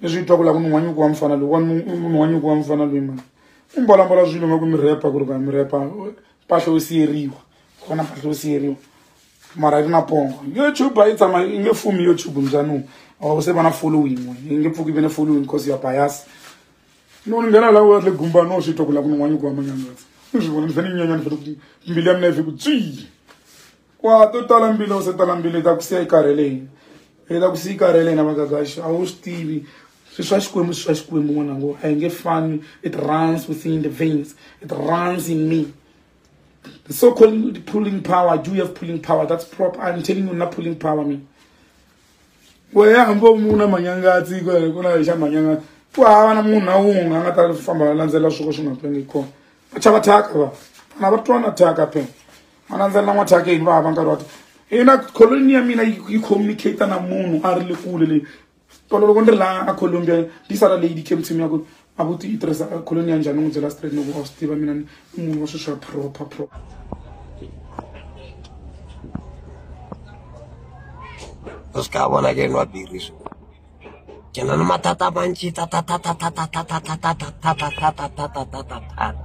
ni swi twa ku la ku munhu wa nyuku wa mufana loyi wa munhu wa nyuku wa mufana loyi mani u mbolambola swilo nga ku mi repa ku ri ku ya mi repa mpahla yo siyeriwa kona mpahla yo siyeriwa mara yi ri na pongo youtube a yi tshama yi nge fumi youtube mbyaniwu awa se va na following we yi nge pfuki ve ne following because ya bias no ni nghena la watle gumba no swi twa ku la ku ni n'wanyi ku wa manyangatsi ni swi vona ni fane ni nyanya ni fane mbilu ya mina yi fi ku tswii wa to tala mbila u se tala mbila i ta ku siya i karhele yini i ta ku siya i karhele yini magagaxi a wu swi tivi swi swa xikwembu swi swa xikwembu n'wana ngo a hi nge fani it runs within the veins it runs in me the so called pulling power do you have pulling power that's prop i'm telling you na pulling power me weya hambi u muna manyangatsi ku na xa manyangatsi ku hava na munhu na wun'we a nga ta famba a landzelela swoko swi nga twangi kona va chava thyaka va vana va twana thyaka phela a landzelela n'wathake yini vava nkarhi wa ina coloni ya mina yi communicate na munhu a ri le kule leyi tolo loko ni ri laha a colombia yi sala leyi dicam team ya ku a ku ti yi tirhisa coloni ya njhani n'wi byela straight loko a swi tiva mina ni munhu wa swilo swa proper proper u swi ka vona ke ni wa biri swi ke na ni matata mantshi tatata